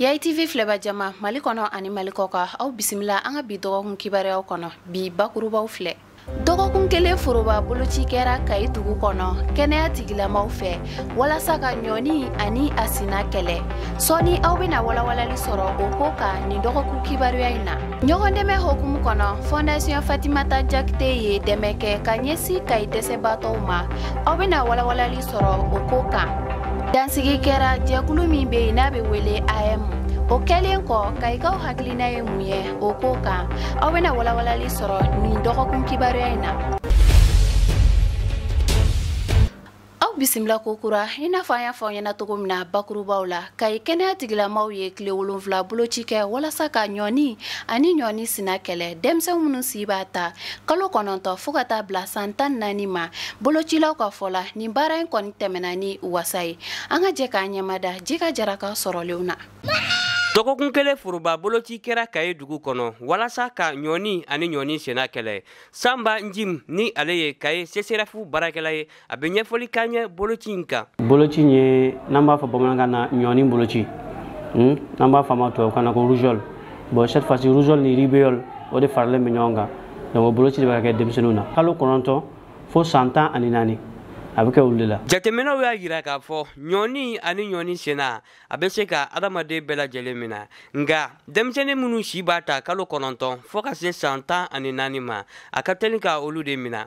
kayi tv filɛba jama mali kɔnɔ ani mali kɔkan aw bisimila an ka bi dɔgɔkun kibaruyaw kɔnɔ bi bakurubaw filɛ dɔgɔkun kelen foroba boloci kɛra kayi dugu kɔnɔ kɛnɛya tigilamaw fɛ walasa ka ɲɔni ani a sina kɛlɛ sɔɔni aw bɛna walawalali sɔrɔ o ko kan nin dɔgɔkun kibaruya in na ɲɔgɔn dɛmɛ hokumu kɔnɔ fondation fatimata jakite ye dɛmɛ kɛ ka ɲɛsin kayi dɛsɛbaatɔw ma aw bɛna walawalali sɔrɔ o ko kan dansigi kɛra jɛkulu min bɛ yen n'a bɛ wele aeem o kɛlen kɔ kayikaw hakilina ye mun ye o ko kan aw bɛna walawalali sɔrɔ nin dɔgɔkun kibaruya in na aw bisimila kokura i n'a fɔ an y'a fɔ aw ɲɛna cogo min na bakurubaw la kayi kɛnɛya tigilamaw ye tile wolonfila boloci kɛ walasa ka ɲɔni ani ɲɔni sina kɛlɛ denmisɛn minnu si b'a ta kalo kɔnɔntɔn fɔɔ ka taa bila san tan naani ma bolocilaw ka fɔ la nin baara in kɔni tɛmɛna ni wasa ye an ka jɛ k'an ɲɛmada jika jara ka sɔrɔlenw na dɔgɔkun kelen foroba boloci kɛra kayi dugu kɔnɔ walasa ka ɲɔni ani ɲɔni sina kɛlɛ sanba njim ni ale ye kayi csref baarakɛla ye a bɛ ɲɛfɔli k'an ye boloci in kan boloci in ye n'an b'a fɔ bamanankan na ɲɔni boloci hmm? n'an b'a fɔ a ma tubabukan na ko rougeole bon cette fois ci rougeole ni rubéole o de faralen bɛ ɲɔgɔn kan donc o boloci de bɛ ka kɛ denmisɛnninw na kalo kɔnɔntɔn fo san tan ani naani a bɛ kɛ olu de la jateminɛw y'a jira k'a fɔ ɲɔni ani ɲɔni sina a bɛ se ka adamaden bɛɛ lajɛlen minɛ nka denmisɛnnin minnu si b'a ta kalo kɔnɔntɔn fɔɔ ka se san tan ani naani ma a ka teli ka olu de minɛ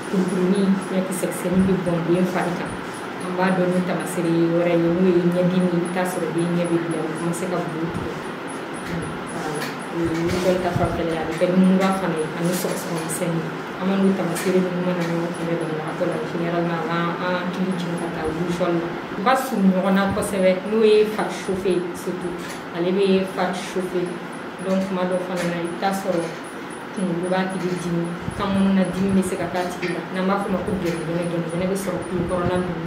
Kurukurunin ɲɛkisɛ kisɛnin bɛ bɔn den fari kan an b'a dɔn ni tamasere wɛrɛ ye n'o ye ɲɛdimi i bɛ taa sɔrɔ den ɲɛ bɛ bilen o bɛ se ka bulu tigɛ rougeole ta fanfɛla a bɛ kɛ ni mura fana ye ani sɔgɔsɔgɔ misɛnnin an ma n'o tamasere ninnu mana ɲɔgɔn kunbɛn banabagatɔ la généralement a b'an hakili jigin ka taa rougeole la u ka surun ɲɔgɔn na kosɛbɛ n'o ye fari chauffe surtout ale bɛ fari chauffe donc tuma dɔ fana na i bɛ taa sɔrɔ kunkolo b'a tigi dimi kan kɔnɔna dimi bɛ se ka k'a tigi la n'an b'a fɔ o ma ko gɛnɛgɛnɛ gɛnɛgɛnɛ bɛ sɔrɔ kulo kɔrɔla ninnu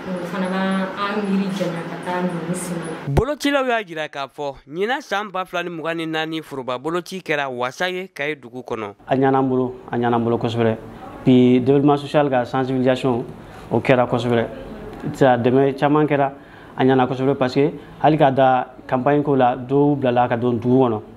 na o fana b'an miiri janya ka taa ɲɔni sina la bolocilaw y'a jira k'a fɔ ɲinan san ba fila ni mugan ni naani foroba boloci kɛra wasa ye kayi dugu kɔnɔ a ɲana an bolo a ɲana an bolo kosɛbɛ puis développement social ka sensibilisation o kɛra kosɛbɛ dɛmɛ caman kɛra a ɲana kosɛbɛ parce que hali ka da campagne ko la dɔw bilala ka don dugu kɔnɔ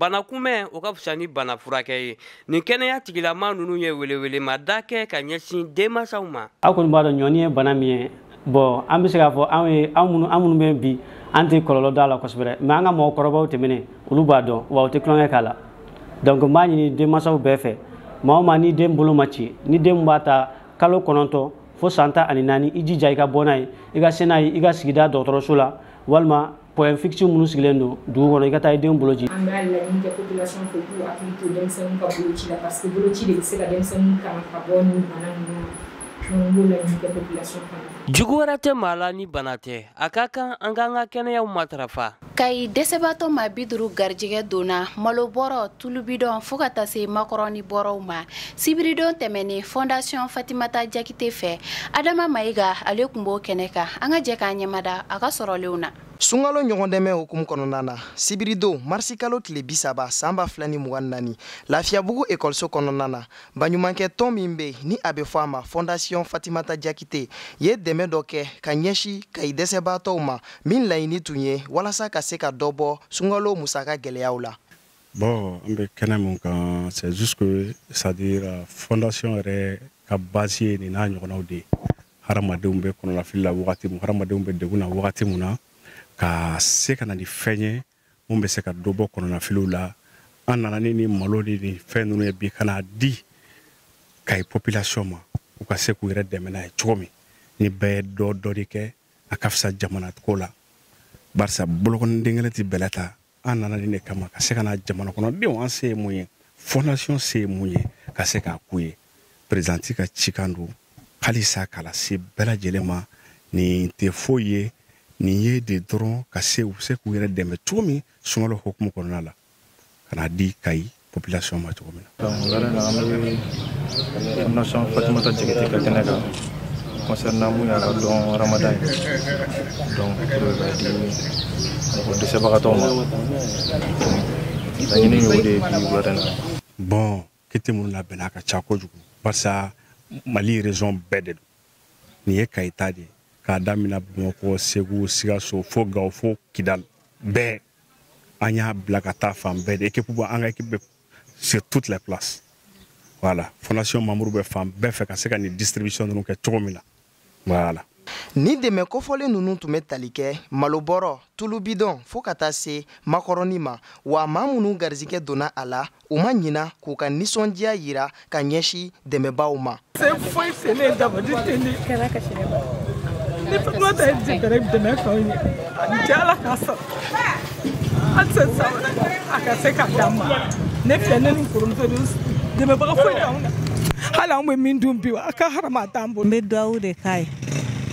bana kunbɛn o ka fisa ni bana furakɛ ye nin kɛnɛya tigilama ninnu ye welewelemada kɛ ka ɲɛsin denmansaw ma aw kɔni b'a dɔn ɲɔni ye bana min ye bon an bɛ se k'a fɔ anw ye anw minnu an minnu bɛ bi an tɛ kɔlɔlɔ dɔn a la kosɛbɛ mais an ka mɔgɔkɔrɔbaw tɛmɛnen olu b'a dɔn wa u tɛ tulonkɛ k'a la donc n b'a ɲini denmansaw bɛɛ fɛ maa o maa ni den bolo ma ci ni den b'a ta kalo kɔnɔntɔn fo san tan ani naani i jija i ka bɔ n'a ye i ka se n'a ye i ka sigida dɔgɔtɔrɔso la walima point fixe minnu sigilen don dugu kɔnɔ i ka taa i denw boloci an b'a laɲini kɛ population fɛ k'u hakili to denmisɛnninw ka boloci la parce que boloci de bɛ se ka denmisɛnninw tanga ka bɔ nin bana ninnu ma donc n b'o laɲini kɛ population fana jugu wɛrɛ tɛ maa la ni bana tɛ a ka kan an k'an ka kɛnɛyaw matarafa kayi dɛsɛbaatɔ maa bi duru garijɛgɛ donna malobɔrɔ tulubidɔn fo ka taa se makɔrɔni bɔrɔw ma sibiridon tɛmɛnen fondation fatimata jakite fɛ adama mayiga ale tun b'o kɛnɛ kan an ka jɛ k'an ɲɛmada a ka sɔrɔlenw na sunkalo ɲɔgɔndɛmɛ hukumu kɔnɔna na sibiridon marisikalo tile bisaba san ba fila ni mugan ni naani lafiyabugu ekɔliso kɔnɔna na baɲumankɛ tɔn min bɛ ni a bɛ fɔ a ma fondation fatimata jakite ye dɛmɛ dɔ kɛ ka ɲɛsi kayi dɛsɛbaatɔw ma min laɲini tun ye walasa ka se ka dɔ bɔ sunkalo musaka gɛlɛyaw la bon an bɛ kɛnɛ min kan c'est juste que c'est à dire euh, fondation yɛrɛ ka base ye nin n'a ɲɔgɔnnaw de ye hadamadenw bɛ kɔnɔnafili la wagati min hadamadenw bɛ degun na wagati min na ka se ka na ni fɛn ye mun bɛ se ka dɔ bɔ kɔnɔnafiliw la an nana ni ni malo ni ni fɛn ninnu ye bi ka n'a di kayi population ma u ka se k'u yɛrɛ dɛmɛ n'a ye cogo min ni bɛɛ ye dɔ dɔ de kɛ a ka fisa jamana ko la barisa bolokɔniden kelen tɛ bɛlɛ ta an nana nin de kama ka se ka na jamana kɔnɔdenw an se ye mun ye fondation se ye mun ye ka se k'a k'u ye présidente ka cikan don halisa k'a lase bɛɛ lajɛlen ma nin tɛ foyi ye nin ye de dɔrɔn ka se u bɛ se k'u yɛrɛ dɛmɛ cogo min sunkalo hukumu kɔnɔna la ka n'a di kayi population ma cogo min na. wula in na an bɛ fondation fatimata jakite ka kɛnɛ kan concernant min y'a ka don ramadan ye donc pour k'a di mɔgɔ dɛsɛbagatɔw ma laɲini y'o de ye bi wula in na. bon kiti minnu labɛnna a ka ca kojugu barisa mali région bɛɛ de don nin ye kayi ta de ye k'a damina bamakɔ segu sikaso fo gawo fo kidal bɛɛ an y'a bila ka taa fan bɛɛ de ekipu bɔ an ka ekipu bɛ sur toutes les places voilà fondation membre bɛ fan bɛɛ fɛ ka se ka nin distribution ninnu kɛ cogo min na voilà nin dɛmɛ kofɔlen ninnu tun bɛ tali kɛ malobɔrɔ tulubidɔn fo ka taa se makɔrɔni ma wa maa minnu garizigɛ donna a la u ma ɲina k'u ka nisɔndiya yira ka ɲɛsi dɛmɛbaaw ma An tɛ sa a ka se k'a d'an ma ne filɛ ne ni kɔrɔmuso de dɛmɛbaga foyi t'anw na hali anw bɛ min dun bi a ka harama t'an bolo n bɛ duwawu de k'a ye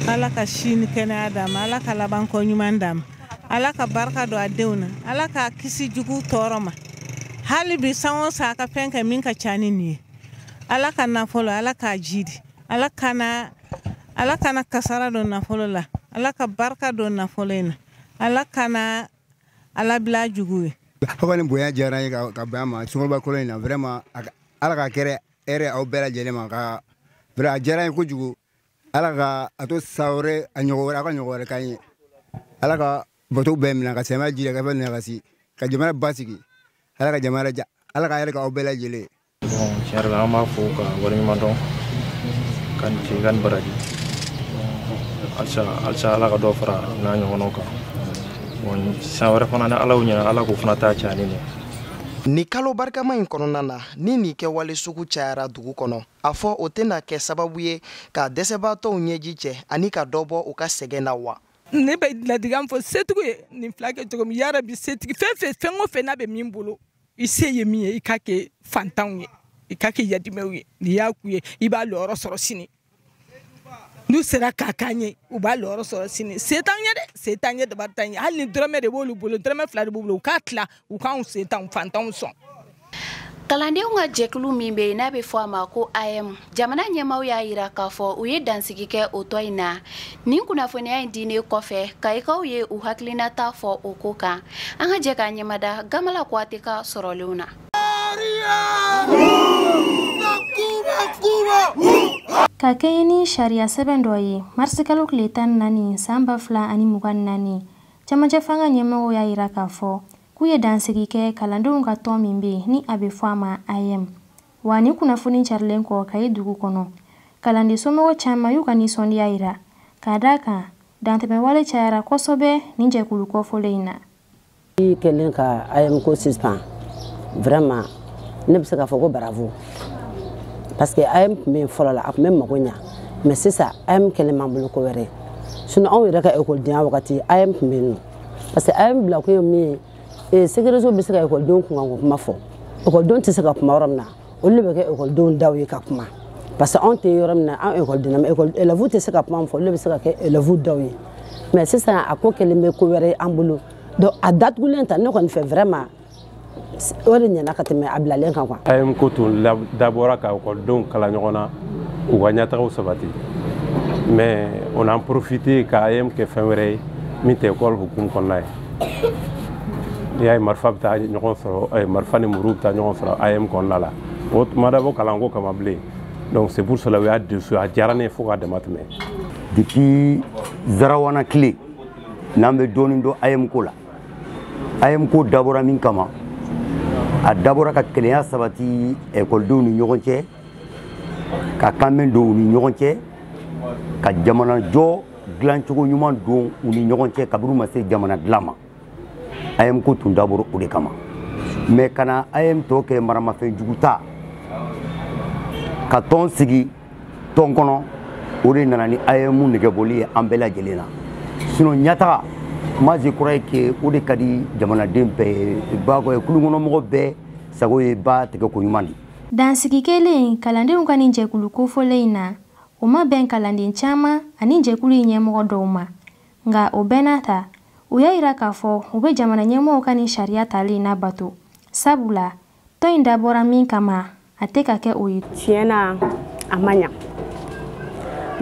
ala ka si ni kɛnɛya d'a ma ala ka labanko ɲuman d'a ma ala ka barika don a denw na ala k'a kisi jugu tɔɔrɔ ma hali bi san o san a ka fɛn kɛ min ka ca ni nin ye ala ka nafolo ala k'a jidi ala kana ala kana kasara don nafolo la ala ka barika don nafolo in na ala kana a labila jugu ye aw ka nin bonya diyara n ye ka bɛn a ma sunkaloba kalo in na vraiment ala ka kɛrɛ hɛrɛ aw bɛɛ lajɛlen ma ka vraiment a diyara n ye kojugu ala ka a to san wɛrɛ a ɲɔgɔn wɛrɛ a ka ɲɔgɔn wɛrɛ k'an ye ala ka bato bɛɛ minɛ ka sɛmɛ ji ka fɛn minɛ ka si ka jamana basigi ala ka jamana ala ka hɛrɛ k'aw bɛɛ lajɛlen tiɲɛ yɛrɛ la an b'a fɔ ka waleɲuman dɔn k'a ni ce k'a ni baraji halisa ala ka dɔ fara n'a ɲɔgɔnnaw kan san wɛrɛ fana ni ala y'o ɲɛna ala k'o fana ta caya ni nin ye Ni kalo barikama in kɔnɔna na ni nin kɛwale sugu cayara dugu kɔnɔ a fɔ o tɛna kɛ sababu ye ka dɛsɛbaatɔw ɲɛji cɛ ani ka dɔ bɔ u ka sɛgɛn na wa ne bɛ laadikan fɔ setigi ye nin fila kɛ cogo min yarabi setigi fɛn fɛn fɛn o fɛn n'a bɛ min bolo i se ye min ye i k'a kɛ fantanw ye i k'a kɛ yadimɛw ye n'i y'a k'u ye i b'a lɔyɔrɔ sɔrɔ sini n'u sera k'a k'an ye u b'a lɔyɔrɔ sɔrɔ sini se t'an ye dɛ se t'an ye dabari t'an ye hali ni dɔrɔmɛ de b'olu bolo dɔrɔmɛ fila de b'u bolo u k'a tila u k'anw setanw fantanw sɔn kalandenw ka jɛkulu min bɛ yen n'a bɛ fɔ a ma ko AEEM jamana ɲɛmaaw y'a yira k'a fɔ u ye dansigi kɛ o tɔn in na nin kunnafoniya in diinen kɔfɛ kayikaw ye u hakilinata fɔ o ko kan an ka jɛ k'a ɲɛmada gamala kuyate ka sɔrɔlenw na ka kɛɲɛ ni sariya sɛbɛn dɔ ye marisikalo tile tan ni naani san ba fila ani mugan ni naani cɛmancɛ fanga ɲɛmɔgɔw y'a yira k'a fɔ k'u ye dansigi kɛ kalandenw ka tɔn min bɛ yen ni a bɛ fɔ a ma AEEM wa ni kunnafoni carilen kɔ kayi dugu kɔnɔ kalanden somɔgɔ caman y'u ka nisɔndiya yira ka d'a kan dantɛmɛwale cayara kosɛbɛ nin jɛkulu kɔfɔlen in na i kɛlen ka AEEM ko suspend vraiment ne bɛ se k'a fɔ ko bravo parce que AEEM tun bɛ yen fɔlɔ la a tun bɛ mago ɲa mais sisan AEEM kɛlen b'an bolo ko wɛrɛ sinon anw yɛrɛ ka ekɔlidenya wagati AEEM tun bɛ yen nɔ parce que AEEM bila kun ye min ye ee segereso bɛ se ka ekɔlidenw kunkanko kuma fɔ ekɔlidenw tɛ se ka kuma yɔrɔ min na olu de bɛ kɛ ekɔlidenw daw ye ka kuma parce que anw tɛ yɔrɔ min na an ekɔliden na ekɔli elɛvu tɛ se ka kuma min fɔ olu de bɛ se ka kɛ elɛvu daw ye mais sisan a ko kɛlen bɛ ko wɛrɛ ye an bolo donc a datugulen ta ne kɔni fɛ vraiment o de ɲɛna ka tɛmɛ a bilalen kan quoi. AEEM ko tun dabɔra ka ekɔlidenw kala ɲɔgɔn na u ka ɲɛtagaw sabati mais on a profité ka AEEM kɛ fɛn wɛrɛ ye min tɛ ekɔli hukumu kɔnɔna ye n'i y'a ye marifa bɛ taa ɲɔgɔn sɔrɔ marifa ni muru bɛ taa ɲɔgɔn sɔrɔ AEEM kɔnɔna la o ma dabɔ kalanko kama bilen donc c'est pour cela u y'a dissous a diyara ne ye fo k'a dama tɛmɛ depuis zarawana tile n'an bɛ dɔɔnin dɔn AEEM ko la AEEM ko dabɔra min kama a dabɔra ka kelenya sabati ekɔlidenw ni ɲɔgɔn cɛ ka kanbɛn don u ni ɲɔgɔn cɛ ka jamanajɔ dilancogo ɲuman don u ni ɲɔgɔn cɛ kabini u ma se jamana dilan ma AEEM ko tun dabɔra o de kama mais ka na AEEM tɔ kɛ maramafɛn jugu ta ka tɔn sigi tɔn kɔnɔ o de nana ni AEEM negebɔli ye an bɛɛ lajɛlen na sinon ɲataga moi je crois que o de ka di jamanaden bɛɛ ye ba kulunkɔnɔmɔgɔ bɛɛ sago ye ba tɛgɛko ɲuman di dansigi kɛlen kalandenw ka nin jɛkulu kofɔlen in na O ma bɛn kalanden caman ani jɛkulu in ɲɛmɔgɔ dɔw ma. Nka o bɛɛ n'a ta, u y'a yira k'a fɔ u bɛ jamana ɲɛmɔgɔw ka nin sariya tali in labato. Sabu la, tɔn in dabɔra min kama, a tɛ ka kɛ o ye. Tiɲɛ na, a ma ɲa.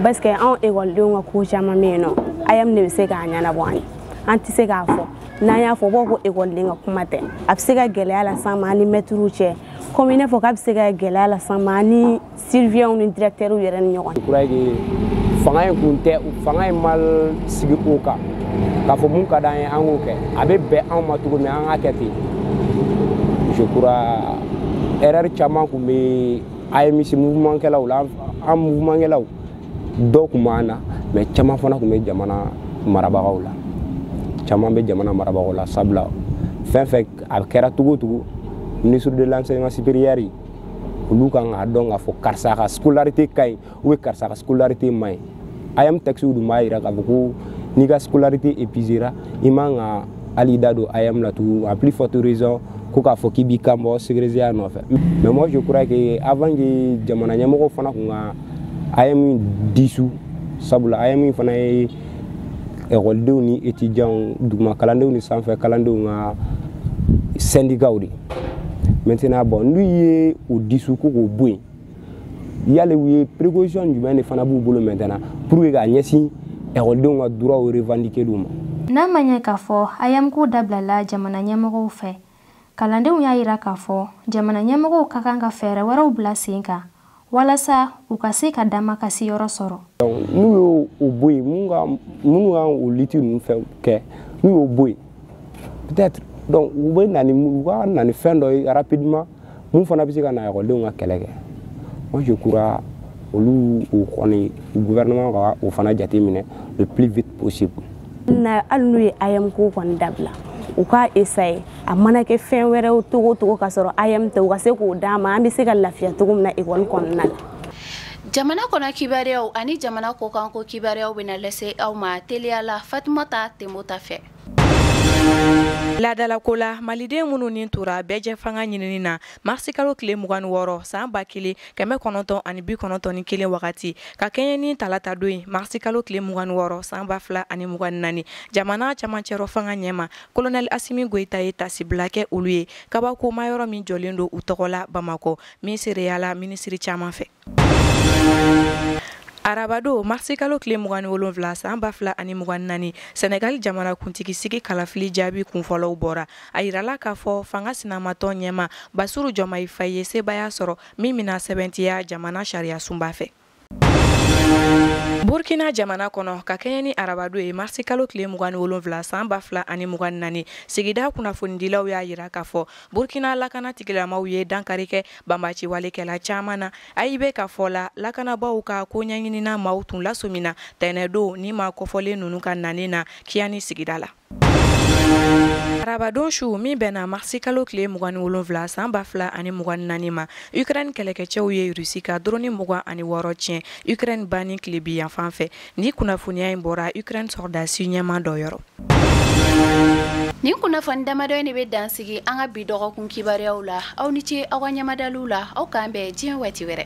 Parce que anw ekɔlidenw ka ko caman bɛ yen nɔ, AEEM de bɛ se k'a ɲɛnabɔ an ye. An tɛ se k'a fɔ. N'an y'a fɔ, u b'a fɔ ko ekɔliden ka kuma tɛ. A bɛ se ka gɛlɛya las'an ma an ni mɛtiriw cɛ, komi i n'a fɔ k'a bɛ se ka gɛlɛya las'an ma an ni surveillantw ni dirɛkitɛriw yɛrɛ ni ɲɔgɔn cɛ je crois fanga in kun tɛ fanga in ma sigi o kan k'a fɔ mun ka d'an ye an k'o kɛ a bɛ bɛn anw ma cogo min an k'a kɛ ten je crois erreur caman kun bɛ AEEM mouvement kɛlaw la an mouvement kɛlaw dɔw kun b'an na mais caman fana kun bɛ jamana marabagaw la caman bɛ jamana marabagaw la sabula fɛn fɛn a kɛra cogo o cogo ministre de l'enseignement supérieur olu kan k'a dɔn k'a fɔ karisa ka scolarité ka ɲi ou bien karisa ka scolarité ma ɲi AEEM textew dun b'a yira k'a fɔ ko n'i ka scolarité épuisera i man ka hali da don AEEM la tugun à plus forte raison ko k'a fɔ k'i b'i kan bɔ segrezeya nɔfɛ mais moi je crois que avant que jamana ɲɛmɔgɔ fana kun ka AEEM dissous sabula AEEM fana ye ekɔlidenw ni etijanw duguma kalandenw ni sanfɛ kalandenw ka sɛndikaw de maintenant bon n'u ye o dissous ko k'o bɔ yen yali u ye précaution jumɛn de fana b'u bolo maintenant pour que k'a ɲɛsin ekɔlidenw ka droitw revendiquerli ma n'a ma ɲɛ k'a fɔ AEEM ko dabilala jamana ɲɛmɔgɔw fɛ kalandenw y'a yira k'a fɔ jamana ɲɛmɔgɔw ka kan ka fɛɛrɛ wɛrɛw bila sen kan walasa u ka se ka damakasi yɔrɔ sɔrɔ n'u y'o bɔ yen minnu ka minnu ka o lutte ninnu fɛn kɛ n'u y'o bɔ yen peut-être donc u bɛ na ni u ka na ni fɛn dɔ ye rapidement mun fana bɛ se ka na ekɔlidenw ka kɛlɛ kɛ moi je crois olu o kɔni gouvernement ka o fana jateminɛ le plus vite possible hali n'u ye AEEM ko kɔni dabila u k'a essayer a mana kɛ fɛn wɛrɛw cogo o cogo k'a sɔrɔ AEEM tɛ u ka se k'o d'a ma an bɛ se ka lafiya cogo min na ekɔli kɔnɔna la jamana kɔnɔ kibaruyaw ani jamana kɔkanko kibaruyaw bɛna lase aw ma teliya la fatumata tenbota fɛ Laadalako la maliden minnu ni tora bɛɛjɛfanga ɲinini na marisikalo tile mugan ni wɔɔrɔ san ba kelen kɛmɛ kɔnɔntɔn ani bi kɔnɔntɔn ni kelen wagati ka kɛɲɛ ni talata don ye marisikalo tile mugan ni wɔɔrɔ san ba fila ani mugan ni naani jamana camancɛrɔ fanga ɲɛma kolonɛli asimi goyita ye tasibila kɛ olu ye kabakoma yɔrɔ min jɔlen don u tɔgɔ la bamakɔ min seereya la minisiri caman fɛ arabado marisikalo tile mugan ni wolonfila san ba fila ani mugan ni naani sɛnɛgali jamana kuntigi sigi kalafili jaabi kunfɔlɔw bɔra a yirala k'a fɔ fanga sinamatɔ ɲɛma basiru jɔmayi fayi ye sebaya sɔrɔ min bɛna sɛbɛntiya jamana sariyasunba fɛ burkina jamana kɔnɔ ka kɛɲɛ ni arabado ye marisikalo tile mugan ni wolonfila san ba fila ani mugan ni naani sigida kunnafonidilaw y'a yira k'a fɔ burkina lakana tigilamaw ye dankari kɛ banbaciwalekɛla caaman na AIB ka fɔ la lakanabaaw ka koɲɛɲinina maaw tun lasomina tɛnɛdon ni maa kɔfɔlen ninnu ka nani na kiyani sigida la arabadon su min bɛnna marisi kalo tile mugan ni wolonfila san ba fila ani mugan ni naani ma ukraine kɛlɛkɛcɛw ye rusi ka doroni mugan ani wɔɔrɔ tiɲɛ ukraine ba ni tilebin yanfan fɛ Nin kunnafoniya in bɔra Ukraine sɔrɔdasi ɲɛma dɔ yɔrɔ. Nin kunnafoni damadɔ in de bɛ dansigi an ka bi dɔgɔkun kibaruyaw la. Aw ni ce aw ka ɲɛmadaliw la. Aw k'an bɛn diɲɛ waati wɛrɛ.